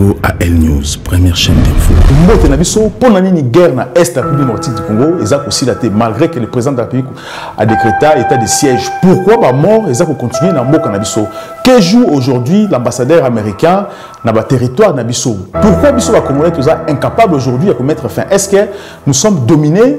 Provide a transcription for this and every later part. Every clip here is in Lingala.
Congo à L News, première chaîne d'info. Mbote na biso, pour la nini guerre na Est la République Nordique du Congo, ils ont aussi la malgré que le président de la République a décrété état de siège. Pourquoi ba mort, ils ont continué na mboka na biso. Que joue aujourd'hui l'ambassadeur américain na ba territoire na biso. Pourquoi biso ba Congolais tous incapable aujourd'hui à mettre fin Est-ce que nous sommes dominés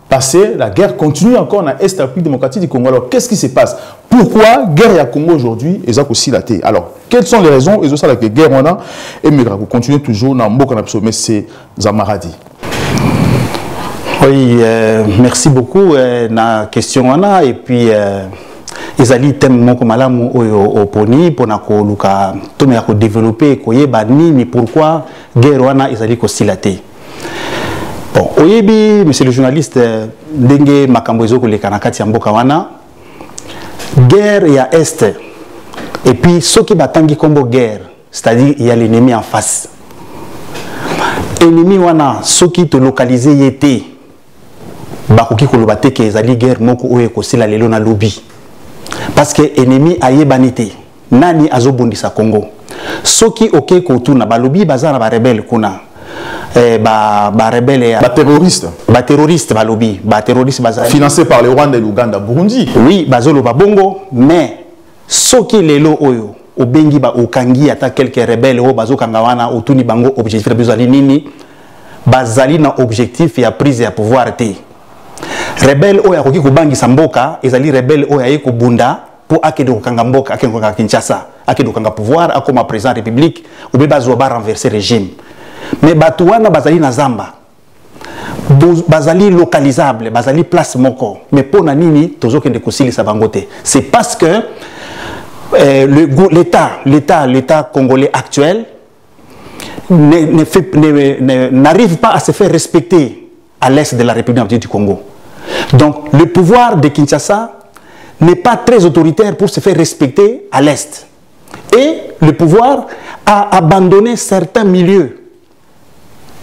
passé, la guerre continue encore na Est République démocratique du Congo. Alors, qu'est-ce qui se passe Pourquoi guerre à Congo aujourd'hui est aussi la Alors, quelles sont les raisons Ils ont ça la guerre on a et mais vous continuez toujours dans Mboka na mais c'est Zamaradi. Oui, euh, merci beaucoup euh, na question on a et puis euh, ezali thème moko malamu oyo oponi mpona koluka to me ya kodévelopper koyeba nini pourquoi guerre wana ezali kosila te bon oyebi monsieur le journaliste euh, ndenge makambo ezo koleka na kati ya mboka wana guerre ya est et puis soki batangi kombo guerre c'est-à-dire il y a l'ennemi en face ennemi wana soki tolokalize ye te bakoki koloba te ke ezali guerre moko oyo ekosila lelo na lobi parce que ennemi ayebani te Nani azobundisa Congo? Soki okei kotuna balobi baza na barebele kuna eh, ba, ba rebelle ya ba terroristes ba terroristes balobi ba terroristes baza financé par le Rwanda et l'Ouganda Burundi oui bazoloba bongo mais soki lelo oyo obengi ba okangi ata quelques rebelles oyo bazokanga wana otuni bango objectif na biso ezali nini bazali na objectif ya prise ya pouvoir te rebelle oyo akoki kobangisa mboka ezali rebelle oyo aye kobunda mpo akende kokanga mboka akende kokanga kinshasa akende kokanga pouvoir akoma président république obe bazwa ba renverse régime mais bato wana bazali na zamba bazali localisable bazali place moko mais mpo na nini tozokende kosilisa bango te c'est parce que euh, l'état l'état l'état congolais actuel n'arrive pas à se faire respecter à l'est de la République du Congo. Donc le pouvoir de Kinshasa n'est pas très autoritaire pour se faire respecter à l'est. Et le pouvoir a abandonné certains milieux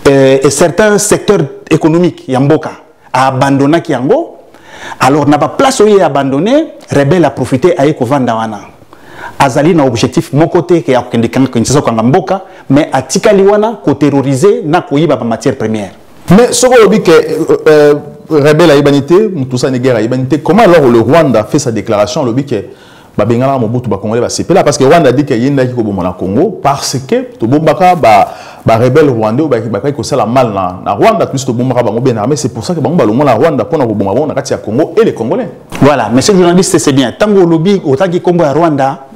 euh, et certains secteurs économiques, Yamboka, a abandonné Kiango. Alors, n'a pas place où il est abandonné, Rebelle a profité à Eko Vandawana. azali na objectif moko te ke ya kokende kinshasa kokanga mboka mais atikali wana koterrorize na koyiba bamatière première Mais ce qu'on dit que euh, euh, rebelle ayebani te, Mutusani guerre ayebani te, comment alors le Rwanda fait sa déclaration lobi que babengana Mobutu ba Congolais ba sepela parce que Rwanda dit que yenda ki koboma na Congo parce que to bombaka ba ba rebelle rwandais ba ba ko sala mal na na Rwanda plus to bombaka bango bien armé c'est pour ça que bango ba longo na Rwanda pona ko bomba bango na kati ya Congo et les Congolais. Voilà, monsieur le journaliste c'est bien. Tango lobi otaki Congo ya Rwanda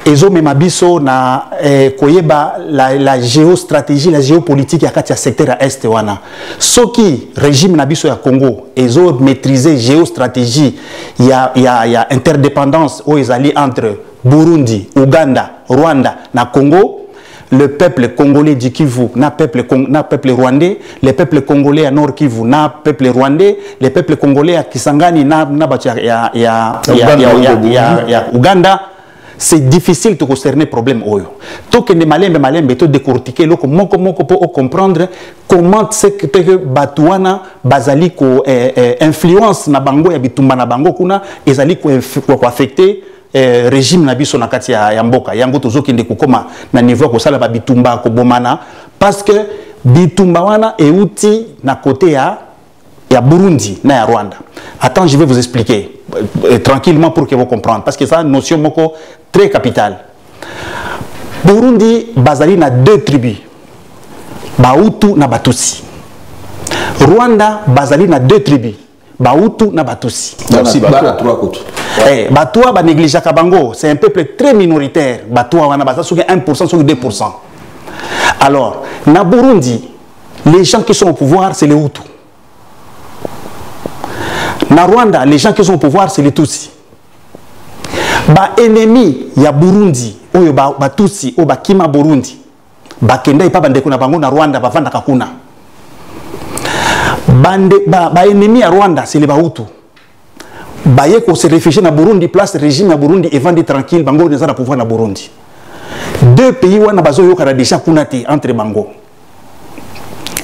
ezomema biso na eh, koyeba la, la géostratégie la géopolitique ya kati ya secteur ya est wana soki régime na biso ya congo ezo maîtrise géostratégie ya, ya, ya interdépendance oyo ezali entre burundi ouganda rwanda na congo le peuple congolais du Kivu, na peuple, na peuple rwandais, le peuple congolais à Nord Kivu, na peuple rwandais, le peuple congolais à Kisangani, na, na ya, ya, ya, ya, Uganda. C'est difficile de concerner problème oyo. Tout que ne malembe malembe to décortiquer loko moko moko pour comprendre comment c'est que que Batouana bazali ko eh, eh, influence na bango ya bitumba na bango kuna ezali ko affecter eh, regime na biso na kati ya, ya mboka yango tozokende kokoma na niveau ya kosala ba bitumba kobomana parce que bitumba wana euti na kote ya ya Burundi na ya Rwanda. Attends, je vais vous expliquer euh, euh, tranquillement pour que vous compreniez parce que ça notion moko très capitale. Burundi bazali na deux tribus. Bahutu na Batutsi. Rwanda bazali na deux tribus. bahutu na batusi eh, batoa banegligeaka bango c'est un peuple très minoritaire batoa wana baza soki 1 soki 2 alors na burundi les gens qui sont au pouvoir c'est les hutu na rwanda les gens qui sont au pouvoir c'est les tutsi baennemi ya burundi oyo batusi oyo bakima burundi bakenda epa bandeko na bango na rwanda bavandaka kuna baennemi ba, ba ya rwanda sele bahutu baye kose réfugie na burundi place régime ya burundi evandi tranquille bango eza na pouvoir na burundi deux pays wana bazoyokana déjà kuna te entre bango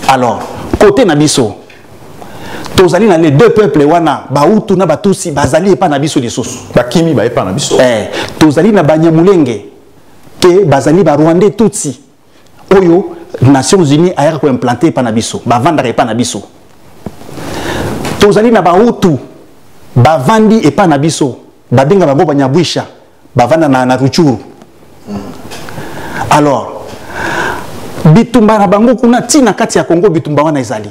alors côté na biso tozali na les deux peuples wana bahutu na batusi bazali epa na biso lisusu bakimi baepa na biso eh, tozali na banyamulenge que bazali ba Rwandais tutsi oyo Nations Unies ayaka ko implanter pa na biso, bavandaka epa na biso. Tozali na ba Hutu bavandi epa na biso, babenga bango banyabwisha, bavanda na, na Ruchuru. Alors, bitumba na bango kuna ti na kati ya Congo bitumba wana ezali.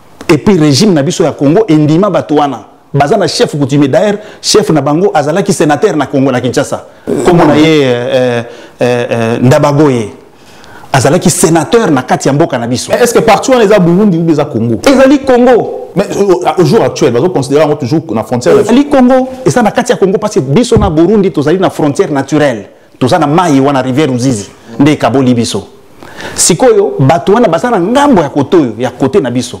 et puis régime na biso ya Congo endima bato wana baza na chef coutumier d'ailleurs chef na bango azalaki sénateur na Congo na Kinshasa kombo na ye euh, euh, euh, euh Ndabagoye azalaki sénateur na kati ya mboka na biso est-ce que partout wana eza Burundi ou eza Congo ezali Congo mais euh, au jour actuel bazo considérer yango toujours na frontière ezali Congo eza na kati ya Congo parce que biso na Burundi tozali na frontière naturelle toza na mayi wana rivière ruzizi nde ekaboli biso sikoyo bato wana baza na ngambo ya kote oyo ya kote na biso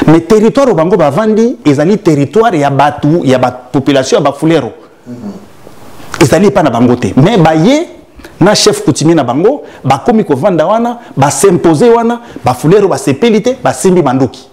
mais territoire bango bavandi ezali territoire ya bato ya bapopulation ya bafulero mm-hmm. ezali epai na bango te mais baye na chef coutumier na bango bakomi kovanda wana basimpose wana bafulero basepeli te basimbi manduki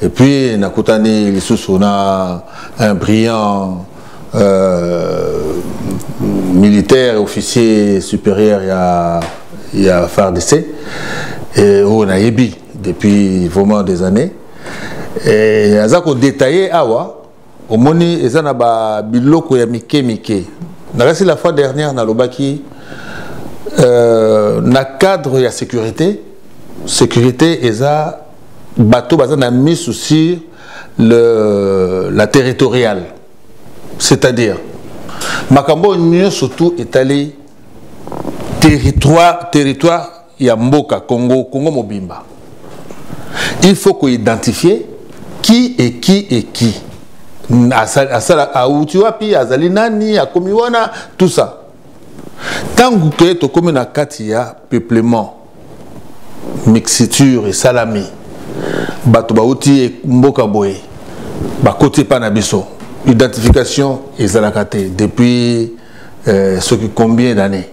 Et puis nakutani lisusu na un brillant euh, militaire officier supérieur ya ya FARDC et oyo nayebi depuis vraiment des années et aza ko détailler awa omoni eza na ba biloko ya mike mike nakasi la fois dernière nalobaki euh, na cadre ya sécurité sécurité eza bato baza na misu sur le, la territoriale c'est-à-dire makambo oyo nyonso tu etali territoire territoire ya mboka Congo Congo mobimba il faut ko identifier qui est qui est qui asala auti wapi azali nani akomi wana tout ça ntango ke tokomi na kati ya peuplement mixiture esalami bato bauti mboka boye bakoti epai na biso identification ezalaka te depuis euh, soki combien d'année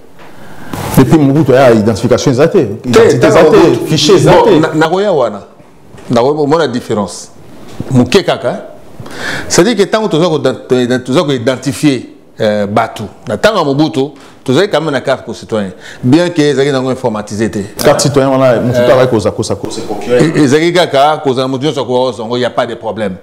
depuis mobutu aya identification eza te identité eza te fichier eza te nakoya wana nakomona différence moke kaka c'est-à-dire que ntango toza koidentifie euh, bato na ntango ya mobutu tozali quand même na carte citoyen bien que ezalaki nango informatisé te carte citoyen wana mosusu euh, azalaki kozala kosakosa ezalaki kaka kozala moto nyonso akoka kozwa yango ya pas de problème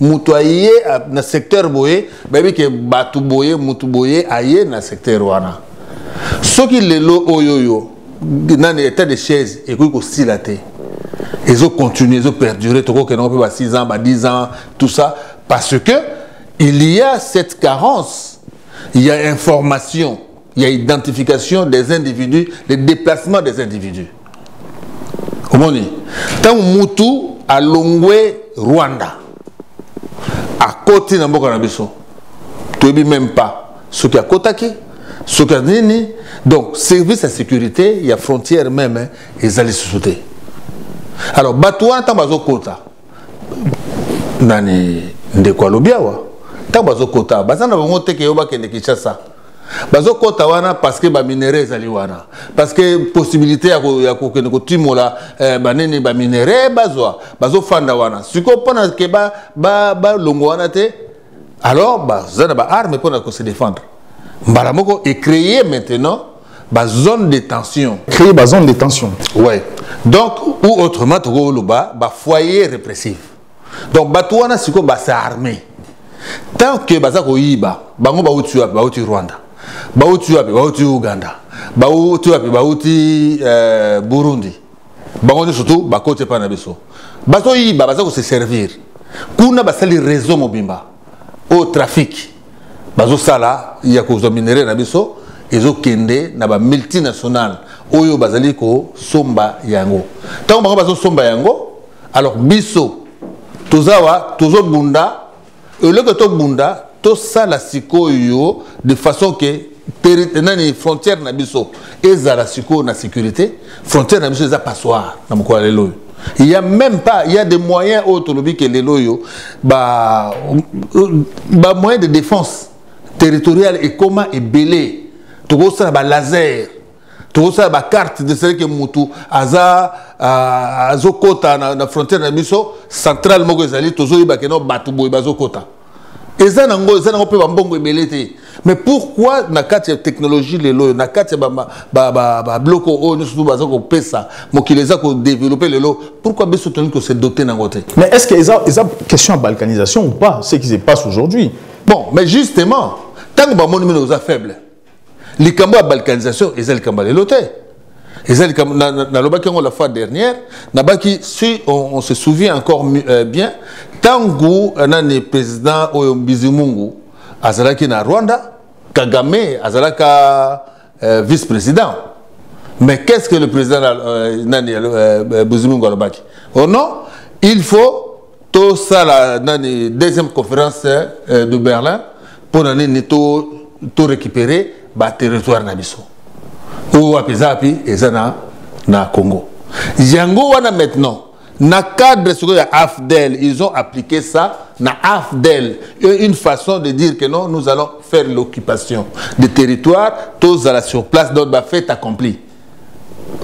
moto aye na secteur boye bayebi ke bato boye moto boye aye na secteur wana soki lelo oyo yo nani état de chaise ekoki kosila te ezo continuer ezo perdurer tokokendango mpe ba 6 ans ba 10 ans tout ça parce que il y a cette carence il y a information Il y a identification des individus, le déplacement des individus. omoni ntango mutu alongwe rwanda akoti na mboka na biso toyebi meme pas soki akotaki soki nini donc service ya sécurité ya frontière meme ezali susu te alors bato wana ntango bazokota nani ndeko alobi awa ntango bazokota baza na bango te ke yo bakende kinshasa bazokɔta wana parce que baminere ezali wana parce que possibilité ya kokende kotimola eh, banini baminere bazwa bazofanda wana sikoyo mpona ke balongwa wana te alors baza na baarme mpona kose défendre mbala moko ecréer maintenant bazone de tension créer bazone de tension ouais donc ou autrement tokoloba bafoyer répressif donc bato wana sikoyo base arme tant que baza koyiba bango bauti wapi bauti rwanda bauti wapi bauti uganda bauti wapi bauti euh, burundi bango nyonso tu bakoti epai na biso bazoyiba baza kose servir kuna basali réseau mobimba oyo trafic bazosala ya kozwa minere na biso ezokende na bamultinationale oyo bazali kosomba yango ntango bango bazosomba yango alors biso tozawa tozobunda eloko tobunda tosala sikoyo de façon ke nani frontière na biso ezala sikoyo na sécurité frontière na biso eza passoire na mokolo ya lelo oyo il y a même pas il y a des moyens oyo tolobi ke lelo oyo ba ba moyen de défense territoriale ekoma ebele tokosala ba laser tokosala ba carte de sele ke mutu aza azokota na, na frontière na biso centrale moko ezali tozoyeba ke no bato boye bazokota eza na yango eza na yango mpe bambongo ebele te mais pourquoi na kati ya technologie lelo oyo na kati ya babiloko oyo nyonso tu baza kopesa mokili eza kodeveloppe lelo pourquoi biso tolingi kose dote na yango te mais est ce que eza, eza question ya balkanisation ou pas ce qui se passe aujourd'hui bon mais justement ntango bamoni mino oza faible likambo ya balkanisation eza likambo ya lelo te eza likambo nalobaki yango la fois dernière nabaki si on, on se souvient encore euh, bien ntango euh, nani président oyo mbizimungu azalaki na rwanda kagame azalaka euh, vice président mais qu'est ce que le président euh, nani euh, euh, bizimungu alobaki oh non il faut To sala nani deuxième conférence euh, de Berlin pour nani ni to to récupérer ba territoire na biso. Ou wapi zapi ezana na Congo. Yango wana maintenant na cadre sikoyo ya afdel ils ont appliqué ça na afdel une façon de dire que non nous allons faire l'occupation des territoires tozala sur place donc bafait accompli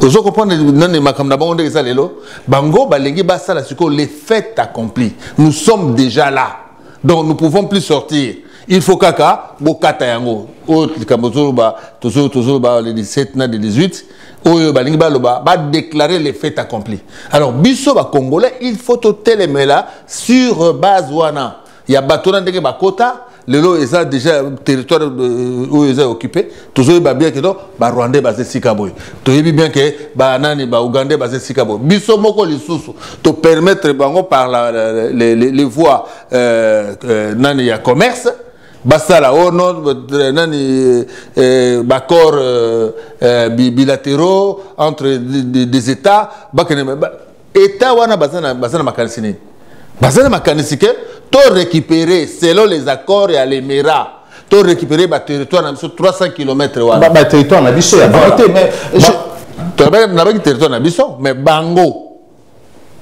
ozo comprendre nani makambo na bango ndenge eza lelo bango balingi basala sikoyo les fêtes accompli nous sommes déjà là donc nous pouvons plus sortir il faut kaka bokata yango oyo likambo tozoloba tozoloba le 17 na le 18 oyo balingi baloba badéclare les fêtes accompli alors biso bacongolais il faut totelemela sur base wana ya bato na ndenge bakota lelo eza déjà territoire euh, oyo eza occupé tozoyeba bien ke no barwandais baza esika boye toyebi bien ke banani baougandais baza esika boye biso moko lisusu topermettre bango par la, la, la, les, les voies euh, euh, nani ya commerce basala o oh non euh, nani euh, euh, baaccord euh, euh, bilatéraux entre des, des états bakende ba, État wana baza na baza na makanisi nini? Baza na makanisi que to récupérer selon les accords ya l'Emera to récupérer ba territoire na biso 300 km wana. Ba, ba territoire na biso ya voilà. te mais to ba na ba territoire na biso mais bango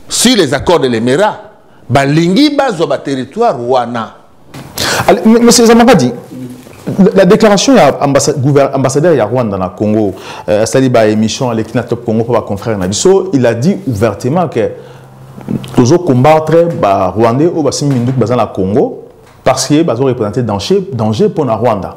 si les accords de l'Emera balingi bazwa ba territoire wana Monsieur Zamakadi, la déclaration ya ambassadeur ya Rwanda na Congo euh, asali ba émission aleki na top Congo mpo ba confrère na biso il a dit ouvertement que tozo combattre ba Rwandais oyo basimbi minduki baza na Congo parce que bazo représenter danger danger mpo na Rwanda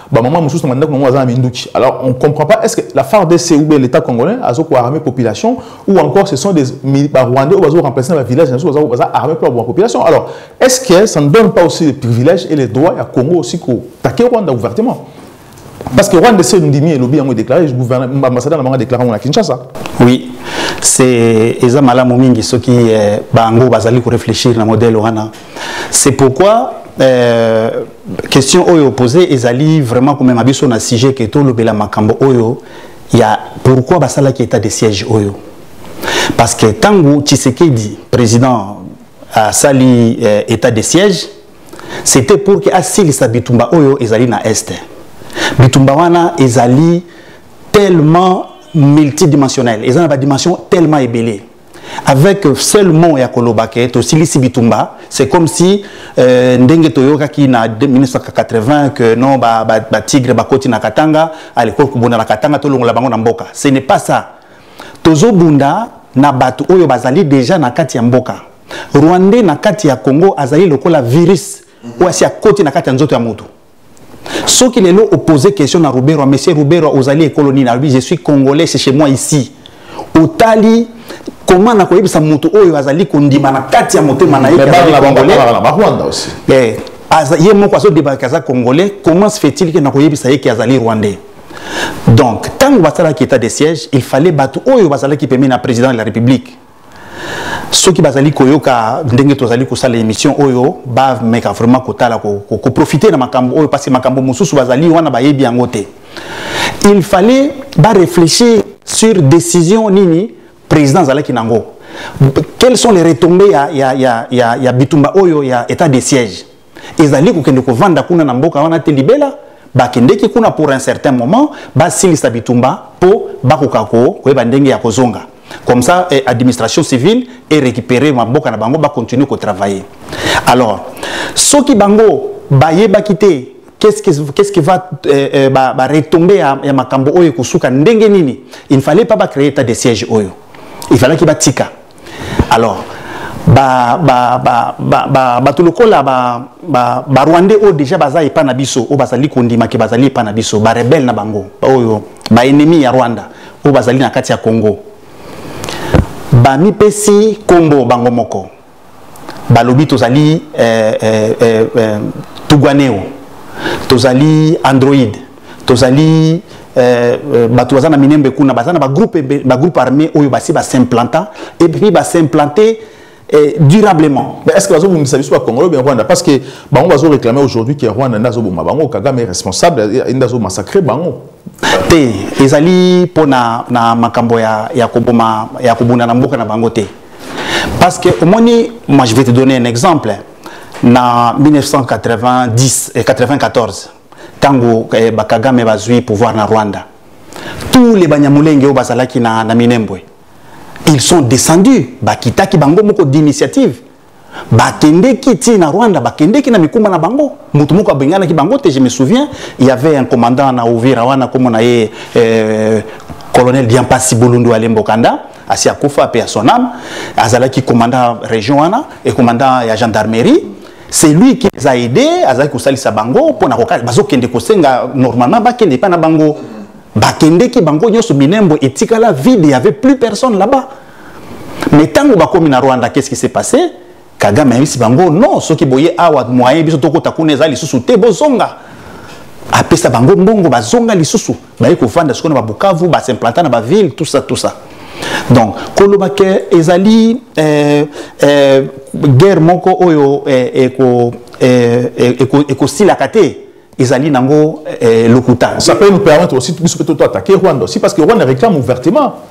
Ba maman mususu na ndako aza na minduki. Alors on comprend pas est-ce que la FARDC ou bien l'état congolais azo ko armer population ou encore ce sont des ba rwandais ou bazo remplacer ba villages nazo bazo baza armer pour la population. Alors est-ce que ça ne donne pas aussi les privilèges et les droits à Congo aussi ko taquer Rwanda ouvertement parce que Rwanda c'est ndimi et lobby yango déclaré le gouverneur ambassadeur na bango déclaré na Kinshasa. Oui. C'est eza malamu mingi soki eh, bango bazali ko réfléchir na modèle wana. C'est pourquoi euh, question oyo opose ezali vraiment komema biso na sujet ke tolobela makambo oyo ya pourquoi basalaki état de siège oyo parce que ntango tshisekedi président asali euh, état de siège c'était pour ke asilisa bitumba oyo ezali na este bitumba wana ezali tellement multidimensionnel eza na badimension tellement ebele avec seul mot ya koloba ke tosilisi bitumba c'est comme si euh, ndenge toyokaki na 1980 que non ba, ba, ba tigre bakoti na katanga alekoli kobunda na katanga tolongola bango na mboka ce n'est pas ça tozobunda na bato oyo bazali déjà na kati ya mboka rwandais na kati ya congo azali lokola virus oyo asi akoti na kati ya nzoto ya moto soki lelo opose question na ruberwa monsieur ruberwa ozali ekolo nini alobi je suis congolais c'est chez moi ici otali koma na koyebisa moto oyo azali kondima na kati ya motema na ye eh, ye moko azodebaka aza congolais comment se fait-il ke na koyebisa ye ke azali rwandais donc ntango basalaki état de siège il fallait bato oyo bazalaki pembeni na président de la république soki bazali koyoka ndenge tozali kosala émission oyo bameka vraiment kotala koprofite na makambo oyo parce makambo mosusu bazali wana bayebi yango te il fallait baréfléchir sur décision nini président azalaki nango quelles sont les retombées ya, ya, ya, ya, ya bitumba oyo ya état de siège ezali kokende kovanda kuna na mboka wana te libela bakendeki kuna pour un certain moment basilisa bitumba mpo bakoka koyeba ndenge ya kozonga comme ça eh, administration civile est récupéré maboka na bango bacontinue kotravailler alors soki bango bayebaki te qu'est-ce qui, qu'est-ce qui va euh, euh, ba, ba retomber ya, ya makambo oyo ekosuka ndenge nini il ne fallait pas bacréer état de siège oyo il fallaki batika alors ba ba ba ba ba ba lokola ba ba ba rwandais oyo déjà baza epa na biso oyo bazali kondima ke bazali epa na biso ba rebelle na bango oyo ba ennemi ya rwanda oyo bazali na kati ya congo bamipesi nkombo bango moko balobi tozali eh, eh, eh, eh, tugwaneo tozali androide tozali euh, euh, bato baza na minembe kuna baza na bagroupe bagroupe armé oyo basi basimplanta epuis basimplante eh, durablement mais est ce que bazobomisa biso bakongolo bien rwanda parce que bango bazoréclame aujourd'hui ke rwanda nde azoboma bango kagame responsable nde azomassacre bango te ezali mpo na, na makambo ya, ya koboma ya kobunda na mboka na bango te parce que omoni moi je vais te donner un exemple na 1990 et 94 tango eh, bakagame bazwi pouvoir na rwanda tous les banyamulenge oyo bazalaki na, na minembwe ils sont descendus bakitaki bango moko d'initiative bakendeki ntina na rwanda bakendeki na mikumba na bango moto moko abenganaki bango te je me souviens il y avait un commandant na uvira wana nkombo na ye euh, colonel diampasi bolundu alembo kanda asi akufa mpe ya son ame azalaki commandant région wana e commandant ya gendarmerie c'est lui qui les a aidés azalaki kosalisa bango mpo na kokala bazokende kosenga normalement bakende epai na bango bakendeki bango nyonso minembo etikala vide y avait plus personne là-bas mais ntango bakomi na rwanda qu'est ce qui s'est passé kagame ayebisi bango non soki boye awa moyen biso tokota kuna eza lisusu te bozonga apesa bango mbongo bazonga lisusu baye kovanda sikoyo na babukavu basimplanta na baville tout ça tout ça donc koloba ke ezali eh, eh, guerre moko oyo eh, ekosilaka te ezali nango lokuta ça peut nous permettre aussi biso mpe toto attaquer rwanda aussi parce que rwanda réclame ouvertement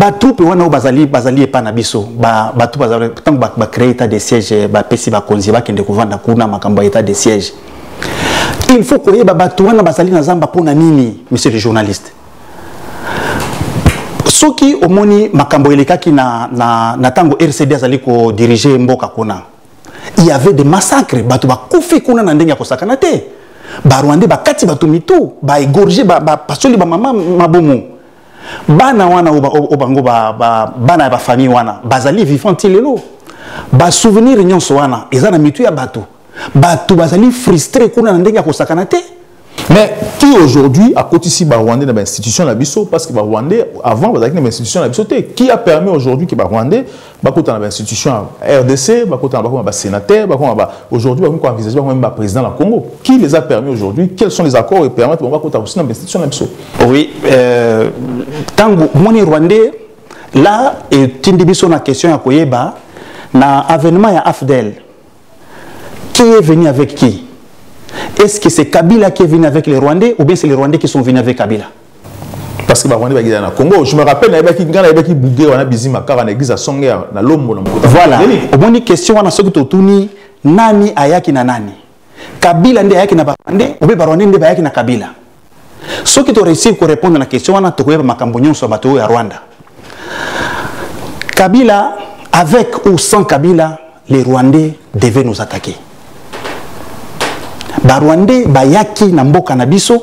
batroupe wana oyo bazali bazali epai na biso bato bazali ntango bacree état de siège bapesi bakonzi bakende kovanda kuna makambo ya état de siège il faut koyeba bato wana bazali na zamba mpo na nini monsieur le journaliste soki omoni makambo elekaki na ntango rcd azali kodirige mboka kuna il y avait des massacres bato bakufi kuna na ndenge ya kosakana te barwandais bakati bato mitu baegorge bapasoli ba, ba bamama mabomo bana wana oyo bango ba, ba, bana ya bafamille wana bazali vivant ti lelo basouvenir nyonso wana eza na mitu ya bato bato bazali frustre kuna na ndenge ya kosakana te mais qui aujourd'hui a akotisi ba rwandais na ba institution na biso parce que ba rwandais avant bazalaki na ba institution na biso te qui a permis aujourd'hui que ba rwandais bakota na ba institution ya rdc bakota na bakoma ba sénateur bakoma ba aujourd'hui bakomi ko envisager bakoma même ba président na congo qui les a permis aujourd'hui quels sont les accords et permettre bango bakota aussi na ba institution na biso oui euh, tango moni rwandais là etindi biso na question ya koyeba na avènement ya afdel Qui est venu avec qui Est-ce que c'est Kabila qui est venu avec les Rwandais ou bien c'est les Rwandais qui sont venus avec Kabila parce que ba Rwandais bagida na Congo je me rappelle na baki ngana baki bouger wana bizima kaka na église à Songea na Lombo na Mokota voilà omoni question wana soki totuni nani ayaki na nani Kabila nde ayaki na ba Rwandais ou bien ba Rwandais nde bayaki na Kabila soki to réussir ko répondre na question wana tokoyeba makambo nyonso ya bato oyo ya rwanda kabila avec ou sans kabila les rwandais devaient nous attaquer barwandais bayaki na mboka na biso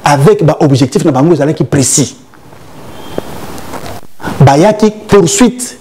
avec baobjectif na bango ezalaki précis bayaki poursuite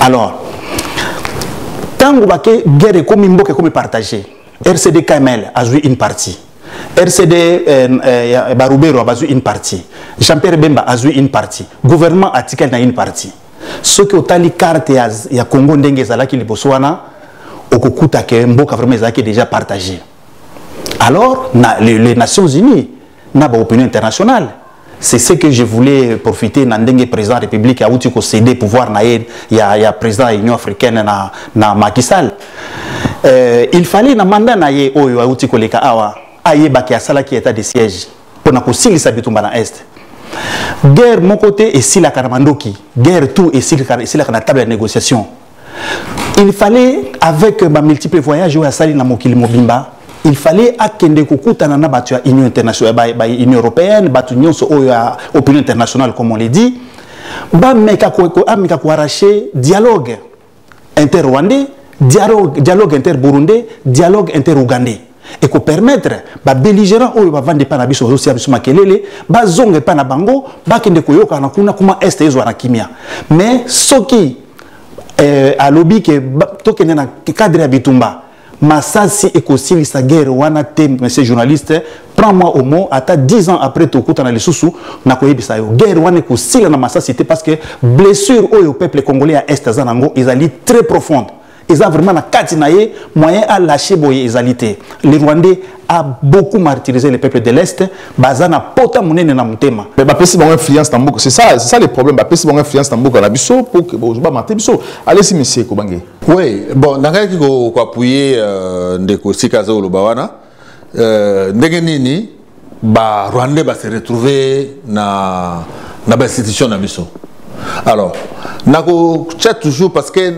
alors ntango bake guerre ekomi mboka ekomi partage rcd kml azwi une partie rcd eh, eh, barubero bazwi une partie jean pierre bemba azwi une partie gouvernement atikali na une partie soki otali carte ya, ya congo ndenge ezalaki liboso wana okokuta ke mboka vraiment ezalaki déjà partage alors na, les, les nations unies na ba opinion internationale c'est ce que je voulais profiter na ndenge président république auti ko céder pouvoir na ye ya, ya président ya union africaine na, na Macky Sall euh, il fallait na mandat na ye oyo auti koleka awa ayebaki asalaki état de siège mpo na kosilisa bitumba na est guerre moko te esilaka na mandoki guerre tout esilaka na table ya négociation il fallait avec ba multiples voyages oyo asali na mokili mobimba il fallait akende kokutana na bato ya union internationale ba, ba union européenne bato nyonso oyo ya opinion internationale comme on le dit bameka ameka koarrache dialogue inter rwandais dialogue, dialogue inter burundais dialogue inter ougandais et ko permettre ba belligérants oyo ba vandi pa na biso bazo sia biso makelele ba zonge pa na bango ba kende koyoka na kuna kuma est ezwa na kimia mais soki euh, alobi ke to kende na cadre ya bitumba masasi ekosilisa guerre wana te monsieur journaliste prends moi au mot ata 10 ans après tokutana lisusu nakoyebisa yo guerre wana ekosila na masasi te parce que blessure oyo peuple congolais ya est aza nango ezali très profonde eza vraiment na kati na ye moyen a lâcher boye ezali te le rwandais a beaucoup martyrisé les peuples de l'Est, baza na pota munene na mutema. Mais ba pesi bango influence na mboka, c'est ça, c'est ça le problème, ba pesi bango influence na mboka na biso pour que bozo ba maté biso. Allez si monsieur ko bangé. Oui, bon, nangaki ko appuyer euh, ndeko sika zo lobawana. euh, ndenge nini ba rwandais ba se retrouver na na ba institution na biso alors nako chat toujours parce que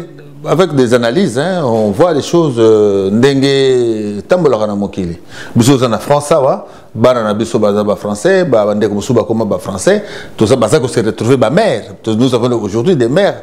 avec des analyses hein, on voit les choses euh, ndenge tambolaka na mokili biso oza na france awa bana na biso baza ba français ba bandeko mosusu bakoma ba français toza baza ko se retrouver ba mère nous avons aujourd'hui des mères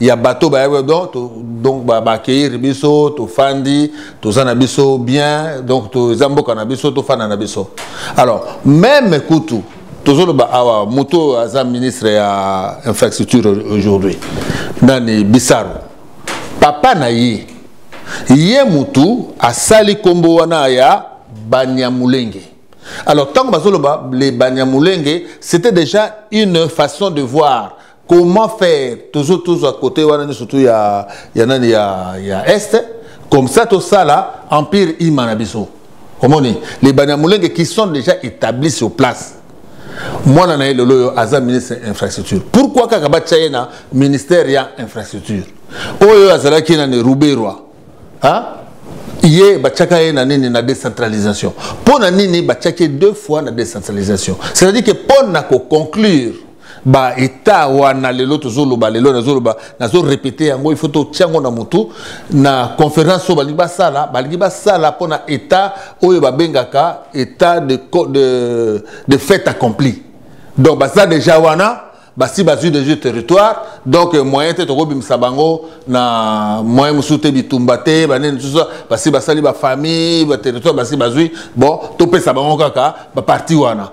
ya bato bayebi donc to, donc bakeiri biso tofandi toza na biso bien donc toza mboka na biso tofanda na biso alors meme kutu tozoloba awa moto oyo aza ministre ya infrastructure aujourd'hui nani bisaro papa na ye ye motu asali nkombo wana ya banyamulenge alors ntango bazoloba le banyamulenge c'était déjà une façon de voir comment faire tozo tozwa kote wana nyonso tu ya, ya nani ya, ya est comme ça tosala empire ima na biso omoni les banyamulenge qui sont déjà établis sur place mwana na ye lelo oyo aza ministre ya infrastructure pourquoi kaka batya ye na ministère ya infrastructure oyo azalaki nani ruberwa ye batyaka ye na nini na décentralisation mpo na nini batyaki ye deux fois na décentralisation c'est à dire que mpo na koconclure ba etat wana lelo tozoloba lelo nazoloba nazo repete yango il faut totia yango na motu na conférence oyo balingi basala balingi basala mpo na etat oyo babengaka etat de, de, de fait accompli donc baza déjà wana basi bazwi deja territoire donc euh, moyen te tokobimisa bango na moyen mosusu te bitumba te banini mosusu basi basali bafamille baterritoire basi bazwi bon topesa bango kaka baparti wana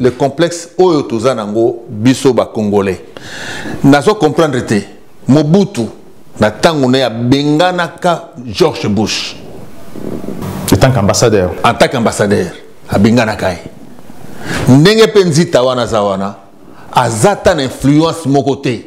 le complexe oyo toza nango biso ba congolais nazo comprendre te mobutu na tango na ya benganaka george bush en tant qu'ambassadeur en tant qu'ambassadeur abenganaka ye ndenge mpe nzita wana aza wana aza ta na influence moko te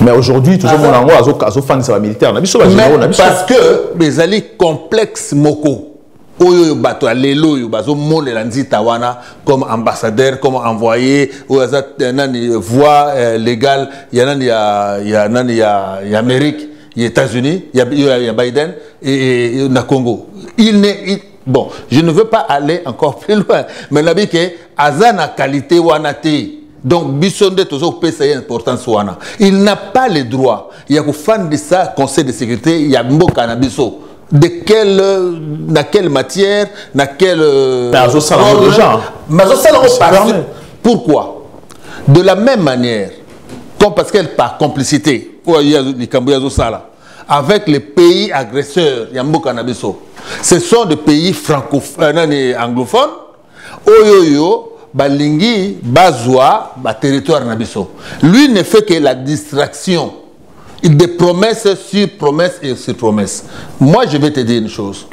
mais aujourd'hui tozomona yango azofandisa bamilitaire na biso bagénéraux na biso parce que ezali complexe moko oyo oyo bato ya lelo oyo bazomonela nzita wana comme ambassadeur comme envoyé oyo aza eh, nani voix eh, légale ya nani ya, ya nani ya, ya amérique ya états-unis ya, ya, ya biden e, e, na congo il ne il, bon je ne veux pas aller encore plus loin mais nabi ke aza na qualité wana te donc biso nde toza kopesa ye importance wana il n'a pas le droit ya kofandisa conseil de sécurité ya mboka na biso de quelle na quelle matière na quelle euh, azosala yango déjà azosala yango parce pourquoi de la même manière comme parce qu'elle par complicité oyo likambo ye azosala avec les pays agresseurs ya mboka na biso ce sont des pays franco euh, anglophones oyo oyo balingi bazwa baterritoire na biso lui ne fait que la distraction des promesses sur promesses et sur promesses moi je vais te dire une chose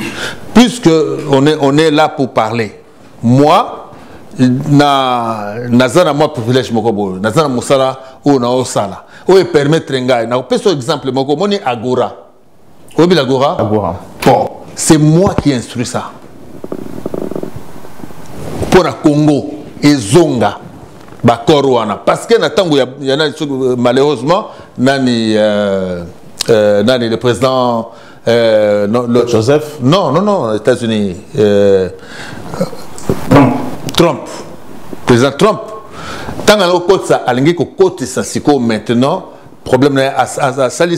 puisque on est, on est là pour parler moi na naza na mwa privilège moko boye naza na mosala oyo naosala oyo epermettre ngai nakopesa exemple moko omoni agora oyebi la gora agora bon c'est moi qui instruit ça mpo na congo ezonga bakor wana parce que na ntango ya, ya nani soki euh, malheureusement nani euh, euh, nani le président euh, non, le, joseph non non non états-unis euh, trump trump président trump ntango alaki kokotisa alingi kokotisa sikoyo maintenant problème na ye asali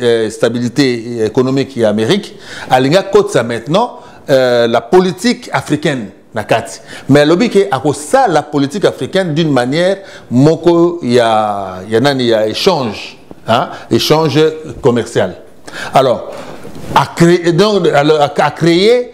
euh, stabilité euh, économique ya amérique alingi akotisa maintenant euh, la politique africaine na kati mais alobi ke akosala politique africaine d'une manière moko ya, ya nani ya échange hein? échange commercial alors a créé, donc, alors, a créé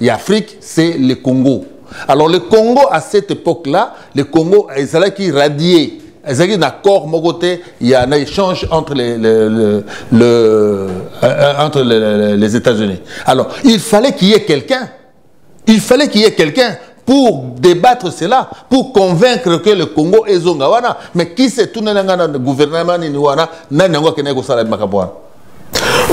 ya afrique c'est le congo alors le congo à cette époque là le congo ezalaki radier ezalaki na accord moko te ya na échange entre les, le, le, le, euh, euh, entre les, les états unis alors il fallait qu'il y ait quelqu'un il fallait qu'il y ait quelqu'un pour débattre cela pour convaincre que le congo ezonga wana mais qui se tunela ngai na gouvernement nini wana nani yango akendaki kosala makambo wana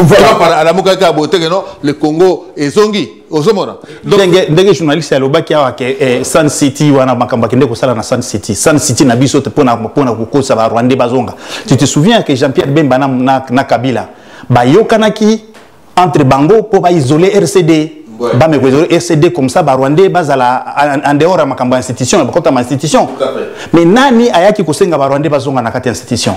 voilà par alamuka ka bote que non le Congo ezongi ozomona ndenge ndenge journaliste alobaki awa ke eh, Sun City wana makambo akende kosala na Sun City Sun City na biso te pona pona kokosa ba Rwandais bazonga tu te souviens que Jean-Pierre Bemba na, na, na Kabila bayokanaki entre bango mpo ba isoler RCD bameko ezali ecd comme ça barwandais bazala en dehors ya makambo ya institution bakota ma institution mais nani ayaki kosenga barwandais bazonga na kati ya institution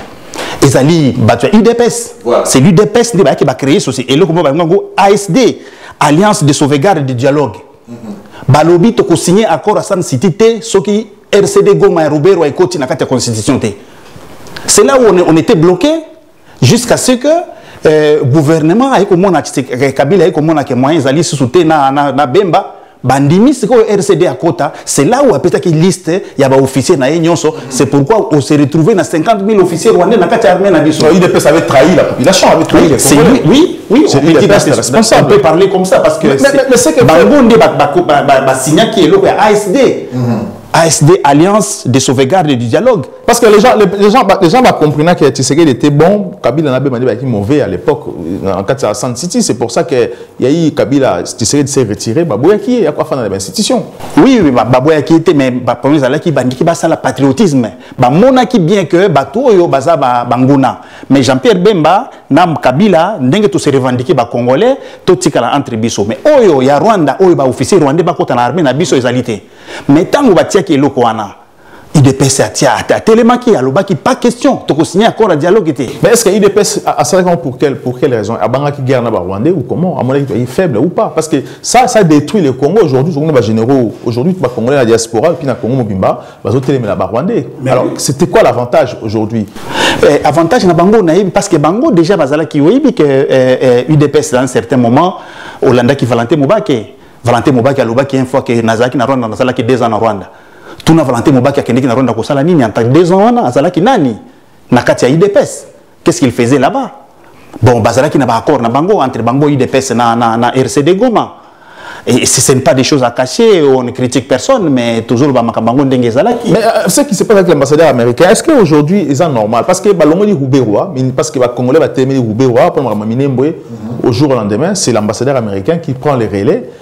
ezali bato ya udps voilà. c'est l'udps nde bayaki bacreye société eloko moko balingi yango asd alliance de sauvegarde de dialogue mm -hmm. balobi tokosigne accord asan city te soki rcd goma ya ruberwa ekoti na kati ya constitution te c'est là où on, on était bloqué jusqu'à ce que euh, gouvernement aye komona kabila aye komona ke moyen ezali lisusu te na, na, na bemba bandimi sikoyo rcd akota c'est là où apesaki liste ya baofficier na ye nyonso c'est pourquoi on se retrouve na 50 000 officier rwandais na kati ya armée na biso udps avait trahi la population avait trahi les c'est lui oui oui c'est lui qui est responsable on peut parler comme ça parce que bango nde basignaki eloko ya asd ASD, Alliance de sauvegarde et du dialogue. Parce que les gens, les, les gens, les gens bah, comprenaient que Tshisekedi était bon, Kabila n'a pas mauvais à l'époque, en 400 City, c'est pour ça que yayi kabila tshisekedi s'est retiré baboyaki ye yako afanda na bainstitution oui oui baboyaki ye te mais baproblème ezalaki bandiki basala patriotisme bamonaki bien que bato oyo baza banguna mais jean pierre bemba na kabila ndenge tose revendiquer bacongolais totikala entre biso mais oyo ya rwanda oyo baofficier rwandais bakota na armée na biso ezali te mais ntango batiaki eloko wana idps atia atelemaki alobaki pas question tokosigne accord ya dialogue te mais est ce que idps asalaki yango pour quelle, pour quelle raison abangaki guerre na barwandais ou comment amonaki toyei faible ou pas parce que ça ça détruit le congo aujourd'hui tokomi na bagénéraux aujourd'hui bacongolais na diaspora epuis na congo mobimba bazotelemela barwandais alors c'était quoi l'avantage aujourd'hui eh, avantage na bango nayebi parce que bango déjà bazalaki oyebi que eh, eh, udps dans un certain moment olandaki valentin mobake valentin mobake alobaki une fois que nazalaki na rwanda nazalaki deux ans na rwanda tuna valentin mobaki akendeki na rwanda kosala nini anta deux ans wana azalaki nani na kati ya udps qu'est ce qu'il faisait là-bas bon bazalaki na baaccord na bango entre bango udps na, na, na rcd goma et si ce n'est pas des choses à cacher on ne critique personne mais toujours bamakambo yango ndenge ezalaki mais euh, ce qui se passe avec l'ambassadeur américain est ce que aujourd'hui eza normal parce que balongoli ruberwa parce que bacongolais batelemeli ruberwa mpo na makambo minemboye mhm. au jour au lendemain c'est l'ambassadeur américain qui prend les relais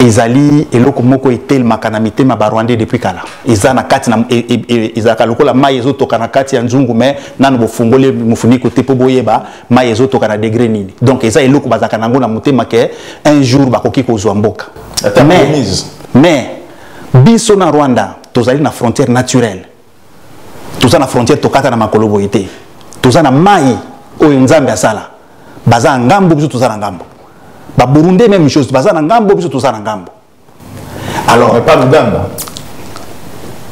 ezali eloko moko etelemaka na mitema ba rwandais depuis kala eza na kati na e, e, e, ezalaka lokola mai ezotoka na kati ya nzungu me nano bofungoli mofuniko te mpo boyeba mai ezotoka na degre nini donc eza eloko bazalaka nango na motema ke un jour bakoki kozwa mboka mais, mais biso na rwanda tozali na frontière naturelle toza na frontière tokata na makolo boye te toza na mai oyo nzambe asala baza na ngambo biso toza na ngambo baburundais même chose baza na ngambo biso toza na ngambo alors mais pas uganda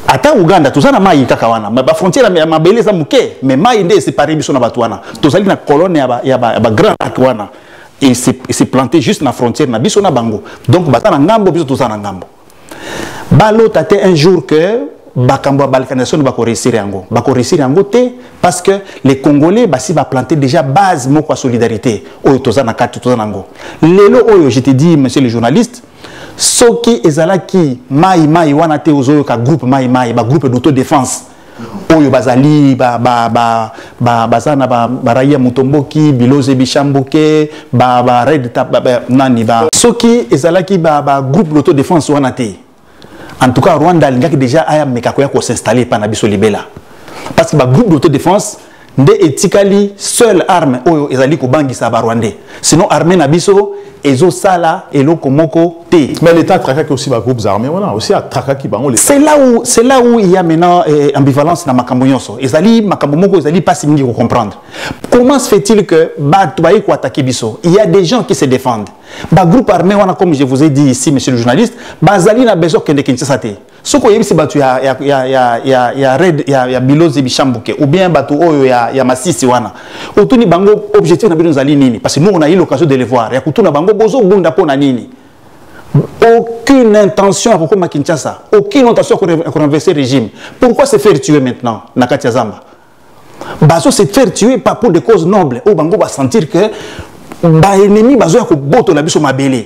ata uganda toza na mai kaka wana bafrontière ya mabele eza moke mais mai nde esepare biso na bato wana tozali na colonne ya bagrand lac wana eseplante juste na frontière na biso na bango donc baza na ngambo biso toza na ngambo balota te un jour que bakambo ya balkanisation bakoresir yango bakoresir yango te parce que les congolais basi baplante déjà base moko ya solidarité oyo toza na kati toza nango lelo oyo je te dis monsieur le journaliste soki ezalaki mai mai wana te ozoyoka groupe mai mai bagroupe d'autodéfense oyo bazali ba, ba, ba, ba, baza na baraia ba mutomboki biloze bishambuke ba, ba red tap, ba, ba, nani ba. soki ezalaki ba, ba groupe d'auto défense wana te en tout cas rwanda alingaki déjà aya meka koya kosinstalle epa na biso libela parce que ba groupe d'auto défense nde etikali seul arme oyo ezali kobangisa barwandais sinon armée na biso ezosala eloko moko te mais l'état atrakaki aussi bagroupes armés wana aussi atrakaki bango c'est là où c'est là où il y a maintenant eh, ambivalence na makambo nyonso ezali makambo moko ezali mpasi mingi kocomprendre comment se fait-il que bato baye koatake biso il y a des gens qui se défendent bagroupe armé wana comme je vous ai dit ici monsieur le journaliste bazali na besoin kokende kinshasa te soki oyebisi bato ya, ya, ya, ya, ya, ya red ya, ya bilozi bishambuke ou bien bato oyo ya, ya masisi wana otuni bango objectif na bino ezali nini parce que nous on a eu l'occasion de le voir ya kotuna bango bozobunda mpo na nini aucune intention ya kokoma kinshasa aucune intention ya korenverse régime pourquoi se faire tuer maintenant na kati ya zamba bazo se faire tuer pas pour des causes nobles oyo bango basentir que baennemi bazoya kobotola biso mabele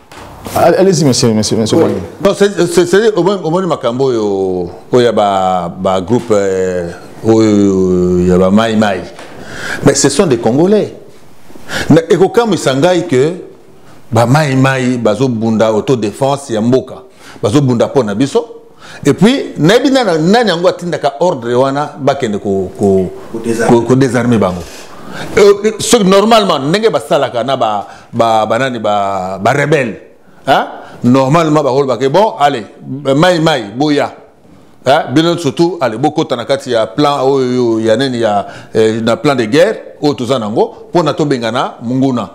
Allez-y, monsieur, monsieur, monsieur. Oui. Non, c'est au moins, au moins, Makambo, où il y a ba, ba groupe, euh, où il y a ba Mai Mai. Mais ce sont des Congolais. Et quand ils s'engagent que, ba Mai Mai, bazo bunda autodéfense, ya mboka, bazo bunda pona biso, et puis nayebi nani yango atindaka ordre wana bakende kodesarme bango euh, soki normalement ndenge basalaka na banani barebele normalement bakolobake bon allez mai mai boya bino surtout ale bokota na kati ya plan oyo ya nini ya eh, na plan de guerre oyo toza nango mpo na tobengana monguna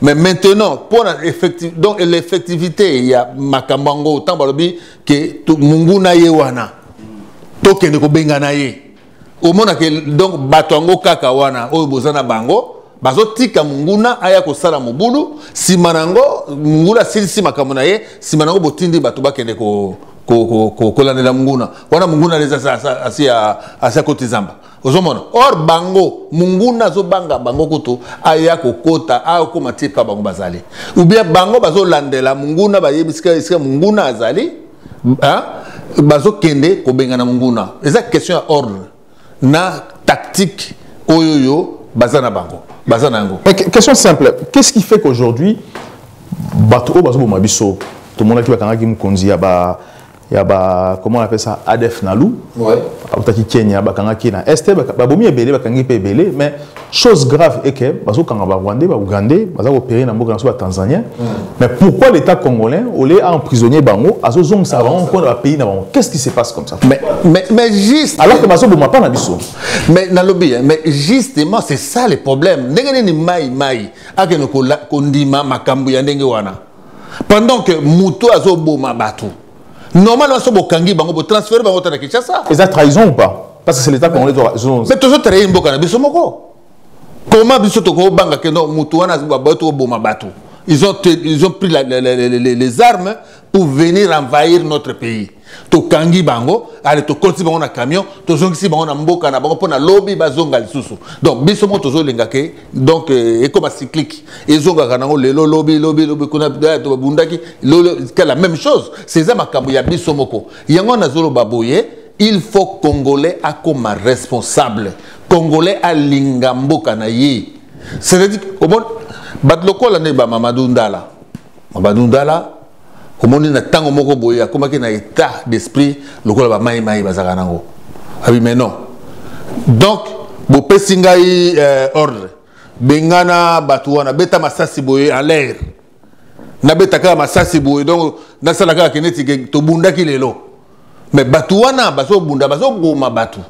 mais maintenant pour la effective donc l'effectivité il y a makambango tant balobi que tout munguna ye wana to kende ko bengana ye au monde que donc batongo kaka wana oyo bozana bango bazotika munguna aya kosala mobulu nsima na yango munguna asilisi makambo na ye nsima na yango botindi bato bakende kolandela ko, ko, ko, munguna wana munguna leza asi akoti zamba ozomona or bango munguna azobanga bango kutu aya kokota akokoma ti epa bango bazali ubien bango bazolandela munguna bayebi esika munguna azali bazokende kobengana munguna eza question ya ordre na tactique oyo yo baza na bango baza na yango question simple qu'est-ce qui fait qu'aujourd'hui bato oyo bazoboma biso tomonaki bakangaki mokonzi ya ba ya ba comment on appelle ça ADF Nalu ouais. autaki Kenya bakangaki na est babomi ebele bakangi mpe ebele mais chose grave est que bazokanga ba rwandais ba ougandais baza kopere na mboka na biso ba tanzanien mm. mais pourquoi l'état congolais oleye aemprisonnier bango azozongisa ah, bango mpo na bapays na bango qu'est ce qui se passe comme ça mais, mais, mais juste alors que bazoboma mpa na biso mais nalobi hein, mais justement c'est ça le problème ndenge nini mai mai akende kondima makambo ya ndenge wana pendant que moto azoboma bato normalement so bokangi bango botransfere bango ta na kinshasa eza trahison ou pas parce que c'est l'état congolais mais tozotraye mboka na biso moko comment biso tokobanga ke no moto wana bato koboma bato ils ont, ils ont pris la, la, la, les armes pour venir envahir notre pays tokangi bango ale tokoti bango na camion tozongisi bango na mboka na bango mpo na lobi bazonga lisusu donc biso moko tozolinga ke donc euh, ekoma cyclique ezongaka nango lelo lobi lobi lobi kuna eh, babundaki la même chose seza makambo ya biso moko yango nazoloba boye il faut congolais akoma responsable congolais alinga mboka na ye c'est-à-dire bato lokola nde bamamadou ndala mabadundala omoni na ntango moko boye akomaki na état d'esprit lokola bamai mai bazalaka nango abi ah mais non donc bopesi ngai euh, ordre bengana bato wana beta masasi boye en l'air nabeta kaka masasi boye donc nasala kaka ke neti tobundaki lelo mais bato wana bazobunda bazoboma bato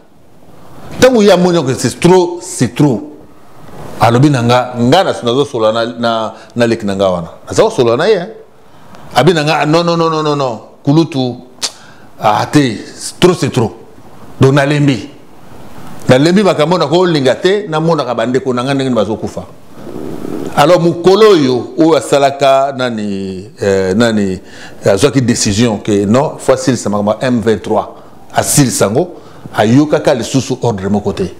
ntango ye amoni oke c'est trop c'est trop alobi na nga nga nazosolola na, na, na leki na nga wana naza kosolola na ye abi na nga non non non non non kulutu ah te trop c'est trop donc nalembi nalembi makambo na kolinga te namonaka bandeko na ngai ndenge nini bazokufa alors mokolo oyo oyo asalaka nani eh, nani azwaki décision ke non fo asilisa makambo ya m23 asilisa yango ayokaka lisusu ordre moko te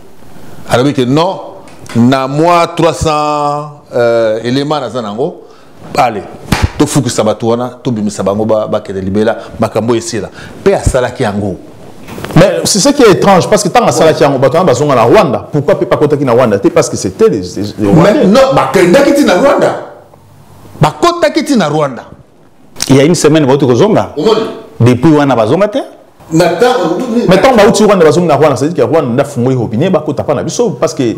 alobi ke non na mwa 300 euh, élément naza na yango bale tofukisa bato wana tobimisa bango bakende libela makambo esila mpe asalaki yango Mais c'est ce qui est étrange, parce que tant que ça, il y a un bâton, ils sont à Rwanda. Pourquoi ne peut pas contacter Rwanda Parce que c'était les, les, les Rwandais. Mais non, bah, quand ils sont à Rwanda, bah, contacter Rwanda. Il y a une semaine, vous êtes au Zonga. Depuis, on a Zonga. mais ntango bauti rwanda bazongi na rwanda cest ke rwanda nde afungoli robine bakota mpa na biso parce que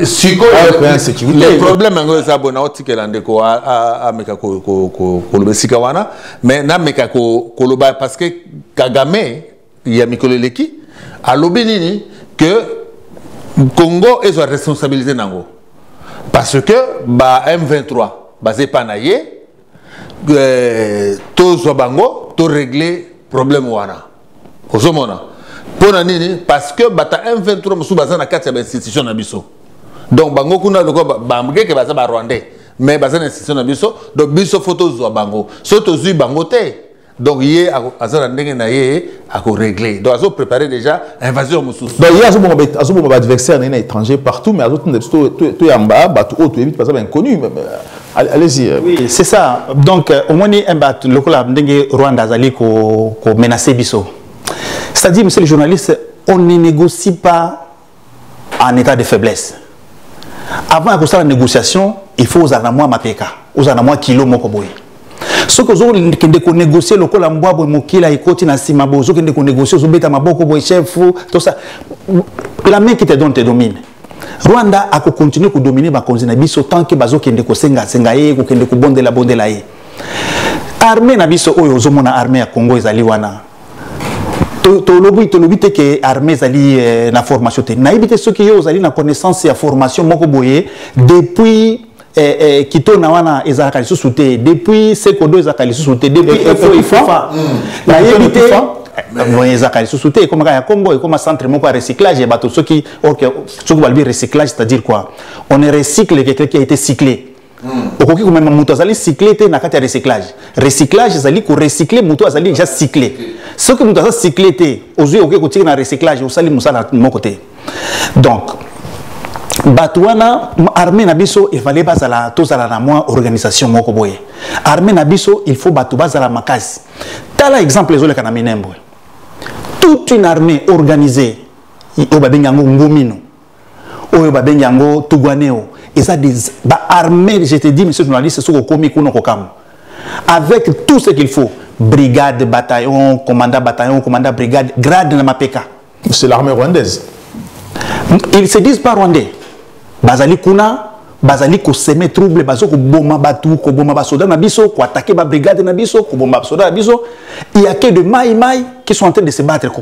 sikoyoproblème yango eza bo naotikela ndeko ameka koloba esika wana mais nameka koloba parce que kagame ya mikolo eleki alobi nini que congo ezwa responsabilité na yango parce que ba m23 baza epa na ye euh, tozwa bango to régler problème wana ozomona mpo na nini parce que bata m23 mosusu baza na kati ya bainstitution na biso donc bango kuna lokola bamgeke baza barwandais mais baza na institution na biso donc biso fo tozwa bango so tozwi bango te donc ye aza na ndenge na ye akoregle donc azoprépare déjà invasion mosusu donc ye azoboma baadversaire na ye na étranger partout mais azotinda biso toyamba bato oyo toyebi baza bainconnu euh, allez-y euh. oui c'est ça donc euh, omoni eh, bato lokola ndenge rwanda azali komenace biso c'est-à-dire monsieur le journaliste on ne négocie pas en état de faiblesse avant ya kosala négociation il faut ozala na mwa mapeka ozala na mwa kilo moko boye soki ozokende konegocie lokola mbwa boye mokila ekoti na nsima boye ozokende konegocie ozobeta maboko boye chef tosa la main qui te donne te domine rwanda akokontinue kodomine bakonzi na biso tant ke bazokende kosengasenga ye kokende kobondelabondela ye arme na biso oyo ozomona arme ya congo ezali wana tolobi tolobi te ke armée ezali eh, na formation te nayebi te soki yo ozali na connaissance ya formation moko boye depuis eh, eh, kitona wana ezalaka lisusu te depuis sekodo ezalaka lisusu te depuis efoifa hmm. nayebi te boye ezalaka lisusu te ekomaka ya congo ekoma centre moko ya recyclage ya bato soki soki balobi recyclage c'est à dire quoi on ne recycle quelqu'un qui a été cyclé Hmm. okoki komema moto azali cycle te na kati ya recyclage recyclage ezali korecycle moto azali deja cycle soki moto aza cycle te ozwi okoki kotika na recyclage osali mosala moko te donc bato wana armée na biso efale bazala tozala na mwa organisation moko boye armée na biso il faut bato bazala makasi tala exemple ezoleka na minembwe toute une armée organisée oyo babengi yango ngomino oyo babengi yango tuguaneo eza des baarmée je te dis monsieur journaliste soki okomi kuna kokamwa avec tout ce qu'il faut brigade bataillon commandant bataillon commandant brigade grade na mapeka c'est l'armée rwandaise ils se disent pas rwandais bazali kuna bazali koseme trouble bazo koboma bato koboma basoda na biso koatake babrigade na biso koboma basoda na biso il y a que de mai mai qui sont en train de se battre ko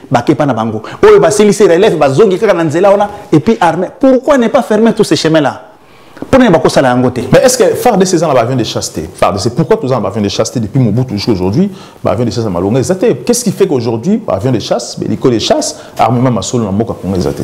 bake epa na bango oyo basilisi relève bazongi kaka na nzela wana epuis armée pourquoi ne pas fermer tous ces chemins là mpo nini bakosala yango te mais est ce que fardc eza na baavion de chasse te fardc pourquoi toza na baavion de chasse te depuis mobutu jusqu'à aujourd'hui baavion de chasse ya malonga eza te qu'est ce qui fait qu'aujourd'hui baavion de chasse beliko de chasse armement masolo na mboka kongo eza te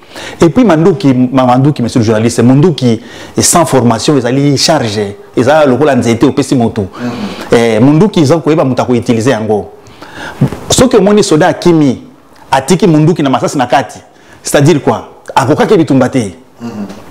et puis manduki manduki monsieur le journaliste munduki sans formation ezali charge eza lokola nzete opesi motu mm-hmm. eh, munduki eza koyeba moto akoutilize yango soki omoni soda akimi atiki munduki na masasi na kati c'est-à-dire quoi akokaki bitumba te mm-hmm.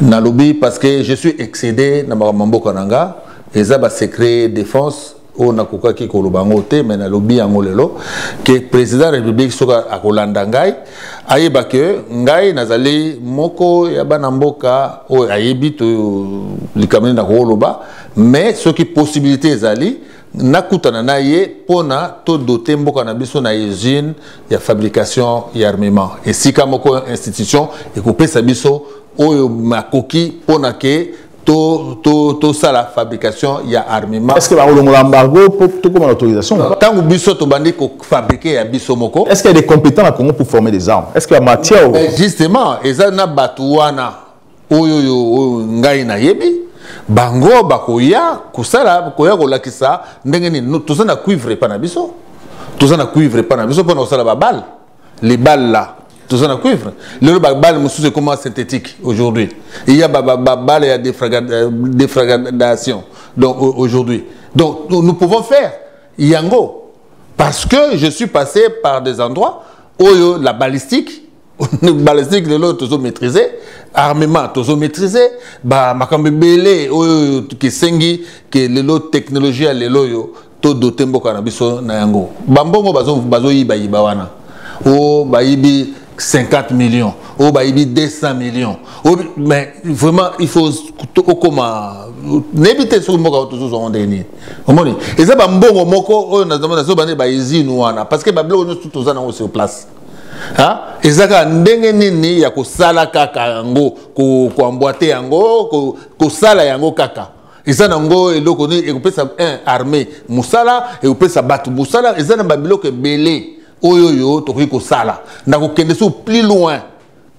nalobi parce que je suis excédé na makambo ya mboka na nga eza basecret défense oyo nakokaki koloba yango te mai nalobi yango lelo ke président ya république soki akolanda ngai ayeba ke ngai nazali moko ya bana mboka oyo ayebi to likambo nini nakokoloba mais soki possibilité ezali nakutana na ye mpo na todote mboka na biso na usine ya fabrication ya armement esika moko institution ekopesa biso oyo makoki mpo na ke tosala to, to, to fabrication ya armement est-ce que bakolongola embargo mpo tokoma na autorisation ntango biso tobandi kofabrike ya biso moko est-ce qu'il y a des compétents na congo pour former des armes est-ce que ya matière justement eza na bato wana oyo oyo oyo ngai nayebi bango bakoya kosala koya kolakisa ndenge nini toza na cuivre epa na biso toza na cuivre epa na biso mpona kosala babale libale la toza na cuivre lelo babale mosusu ekoma synthétique aujourd'hui iya babale ya euh, défragradation donc aujourd'hui donc nous pouvons faire yango parce que je suis passé par des endroits oyo la balistique balistique lelo tozo maîtriser armement tozo maîtriser ba makambo ebele oyo kisengi ke lelo technologie ya lelo oyo to dote mboka na biso na yango bambongo bazoyibayiba wana o bayibi 50 millions oyo oh, bayibi 200 millions oh, mais vraiment il faut okoma nayebi te soki mboka tozozwa ngo ndenge nini omoni eza bambongo moko oyo nazobande baizine wana parce que babiloko nyonso toza nango sur place Hein? eza kaka ndenge nini ya kosala kaka yango koambwate yango kosala yango kaka eza na yango eloko nini ekopesa un armée mosala ekopesa bato mosala eza na babiloko ebele oyo oyo tokoki kosala na kokende so plus loin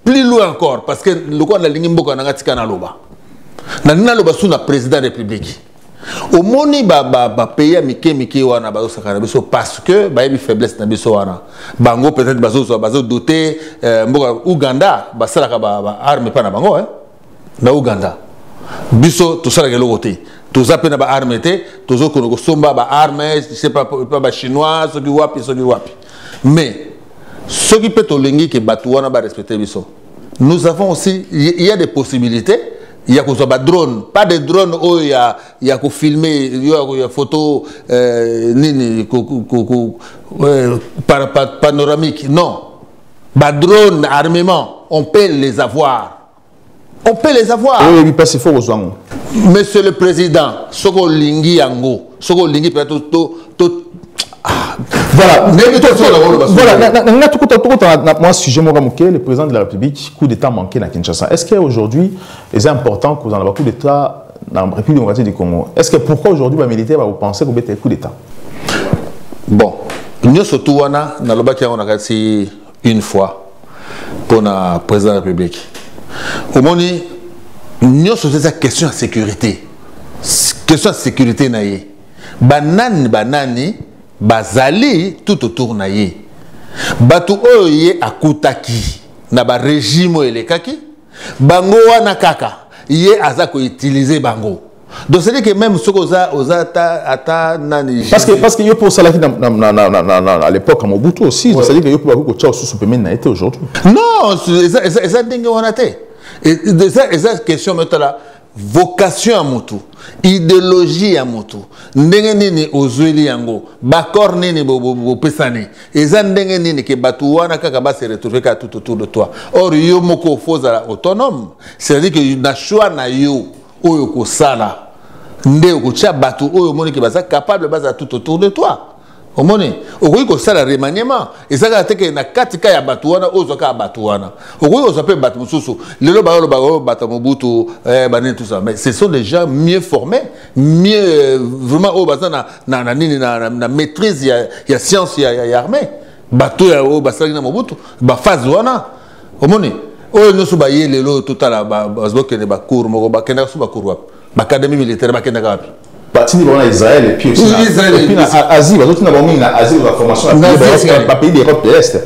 plus loin encore parce que lokola nalingi mboka na ngai tika naloba nalingi naloba su na président république omoni bapays ya mike mike wana bazosakana biso parce que bayebi faiblesse na biso wana bango peut-être bazozwa bazodote euh, mboka ouganda basalaka baarme epai na bango eh? na uganda biso tosalaka eloko te toza mpe na baarme te tozokona kosomba baarme sepa bachinois soki wapi soki wapi mais soki mpe tolingi ke bato wana barespecte biso nous avons aussi il y a des possibilités ya kozwa badrone pas de drone oyo ya, ya kofilme yo ya photo euh, nini ko, ko, ko, euh, par, par, panoramique non ba drone armement on peut les avoir on peut les avoir oui oui parce qu'il faut kozwa ngo monsieur le président soki olingi yango soki olingi mpenza to, to, to ah, voilà ndenge tosolaaolobaaolanga tokota na mwa sujet moko moke le président de la république coup d'état manqué na kinshasa est ce que aujourd'hui eza important kozala na bacoup d'état na République démocratique du Congo. Est-ce que pourquoi aujourd'hui les militaires vont penser qu'on bête coup d'État Bon, nous surtout wana na lobaki yango na kati une fois pour na président de la République. Au moins nous surtout cette question de sécurité. Question de sécurité na ye. Banani banani bazali tout autour na ye. Batu oyo ye akutaki na ba régime elekaki bango wana kaka ye aza koutilize bango donc cest que même soki oza oza ata ata nani parce que parce que yo mpe osalaki à l'époque ya mobutu aussi donc cest que yo mpe bakoki kotya osusu pembeni na ye te aujourd'hui non eza ndenge wana te eza question metala vocation ya mutu ideologie ya mutu ndenge nini ozweli yango baccord nini bopesani bo, bo, eza ndenge nini ke bato wana kaka base retrouve kaka tout autour de toi or yo moko ofo ozala autonome c'est-à-dire que na choix na yo oyo okosala nde okotya bato oyo omoni ke baza capable bazala tout autour de toi omoni okoki kosala remaniement eza kaka te ke na kati ka ya bato wana ozwa kaka bato wana okoki kozwa mpe bato mosusu lelo bayolobaka oyo bato ya mobutu eh, banini tout ça mais ce sont des gens mieux formés mieux euh, vraiment oyo baza na, na, na nini na, na, na maîtrise ya, ya science ya, ya, ya armée bato ya oyo basalaki na mobutu baphase wana omoni oyo nyonso baye lelo totala bazokende bacour moko bakendaka so bacour wapi Bakademi militaire bakendaka wapi? batindi bango na israel epuisna asie bazotinda bango mingi na asie baformation bapays de europe de l'est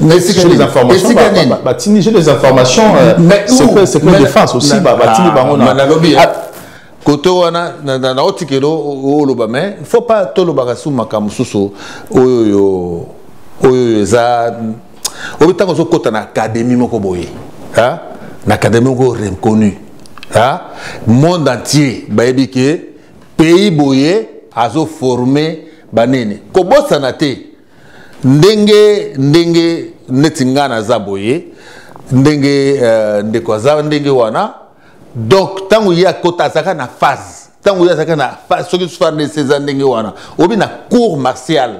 batindi je des informations euh, secret défense aussi batindi ah, bango kote wana na otikelo oloba mais faut pas tolobaka su makambo mosusu oyo oyo eza obi ntango ozokota na akademi moko boye na akademi moko reconnu monde entier bayebi ke pays boye azoforme banene kobosana te ndenge ndenge neti ngai naza boye ndenge uh, ndeko aza ndenge wana donc ntango ye akota azalaka na phase ntango ye azalaka na phase soki farnese eza ndenge wana obi na cour martiale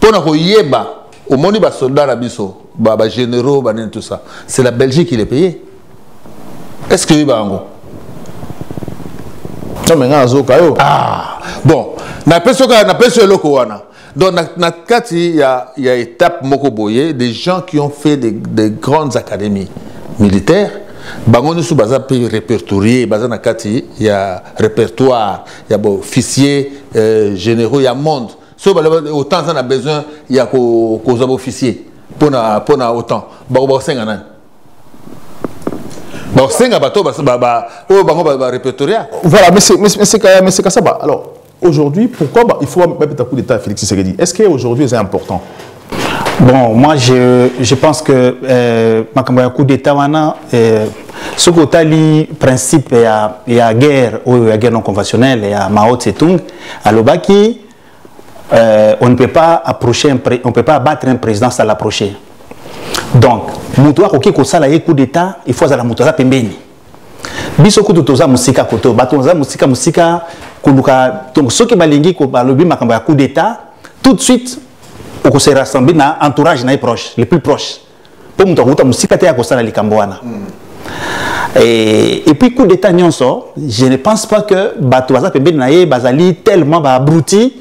pona koyeba omoni ba soldats na biso ba ba généraux ba tout ça c'est la Belgique qui les paye est-ce que oyeba yango non mais nga azoka yo ah bon na peso ka na peso eloko wana donc na, na kati ya ya étape moko boye des gens qui ont fait des, des grandes académies militaires bango nyonso baza mpe répertorié baza na kati ya répertoire ya ba officier euh, généraux ya monde soki balobi otan aza na besoin ya kozwa ba officier mpona mpona otan bakosenga nani bakosenga bato oyo bango barepertoria voilà monsieur kasaba alors aujourd'hui pourquoi il faut babeta coup d'état félix tshisekedi est ce que aujourd'hui eza important Bon, moi je, je pense que euh, makambo ya coup d'état wana euh, soki otali principe ya, ya guerre oyo ya guerre non conventionnelle ya Mao Tse-tung alobaki euh, on ne peut pas approcher un on ne peut pas abattre un président sans l'approcher. Donc, moto akoki kosala ye coup d'état, il faut azala moto aza pembeni. biso kutu toza mosika koto bato baza mosika mosika koluka donc soki balingi balobi makambo ya coup d'état tout de suite okose rassembler na entourage na ye proche le plus proche mpo moto akouta mosika te akosala likambo wana mm. Et, et puis coup d'état nyonso je ne pense pas que bato baza pembeni na ye bazali tellement baabruti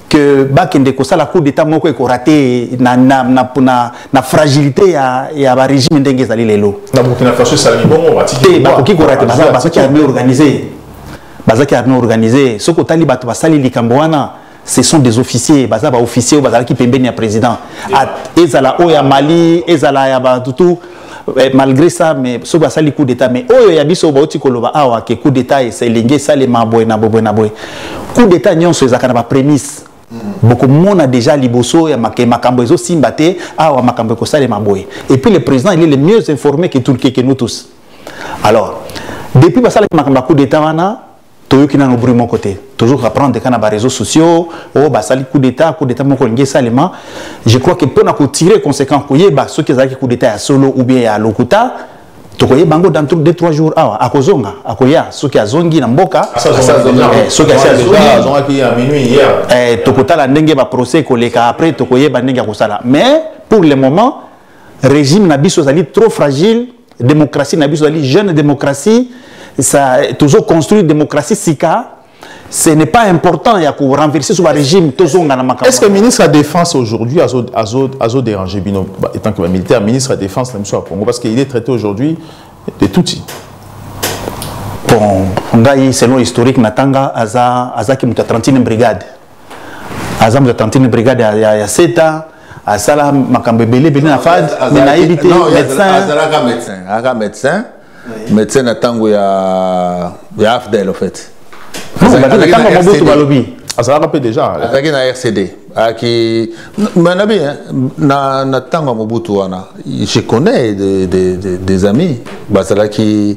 que bakende kosala coup d'état moko ekorate na, na, na, na, na fragilité ya, ya barégime ndenge ezali lelo te bakoki korate bazaki armée organisée bazaki armée organisée soki otali bato basali likambo wana ce sont des officiers baza baofficier oyo bazalaki pembeni ya président ezala oyo ya mali ezala ya batutu Eh, malgré ça mais soki basali coup d'état mais oyo ya biso bauti koloba awa ke coup d'état elingi esalema boye na boye na boye coup d'état nyonso ezalaka na baprémisse mm. bokomona déjà liboso ya make makambo ezosimba te awa makambo ekosalema boye et puis le président il est le mieux informé que, tout, que, que nous tous alors depuis basalaki makambo ya coup d'état wana toyoki nano bruit moko te tozo reprendre kaka na ba réseaux sociaux oyo oh, basali coup d'état coup d'état moko olingi esalema je crois que mpona kotirer conséquent koyeba soki ezalaki coup d'état ya solo ou bien ya lokuta tokoyeba yango dans 2 3 jours awa akozonga akoya soki azongi na mboka eh, soki asi azongi eh, tokotala ndenge baprocès ekoleka après tokoyeba ndenge ya kosala mais pour le moment régime na biso ezali trop fragile démocratie na biso ezali jeune démocratie ça toujours construire démocratie sika ce n'est pas important ya ko renverser sur ba régime tozonga na makambo est-ce que ministre ya défense aujourd'hui azo azo azo déranger bino étant que ba militaire ministre ya défense na biso ya Congo parce qu'il est traité aujourd'hui de Tutsi bon ngai selon historique natanga aza azaki moto ya 31 brigade aza moto atantine brigade ya, ya, ya seta asala makambo ebele ebele na fad me nayebi te médecinazalaka médecin azalaka médecin médecin na ntango ya ya afdel au fait ntango mobutu balobi azalaka mpe déjà azalaki na rcd ayaki manabi na ntango ya mobutu wana je connais des, des, des amis bazalaki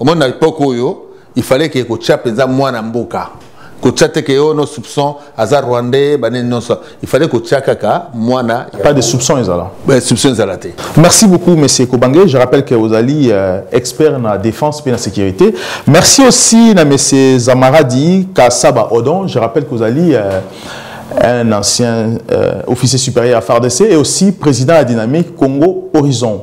omoni na epoke oyo il fallait ke kotya mpenza mwana mboka kotya te ke yo no soupçon aza rwandais banini nyonso il fallait kotya kaka mwana pas de soupçon ezala ben, soupçon ezala te merci beaucoup monsieur kobange je rappelle que ozali euh, expert na défense mpe na sécurité merci aussi na monsieur zamaradi kasaba odon je rappelle que ozali euh, un ancien euh, officier supérieur à FARDC et aussi président de la dynamique Congo Horizon.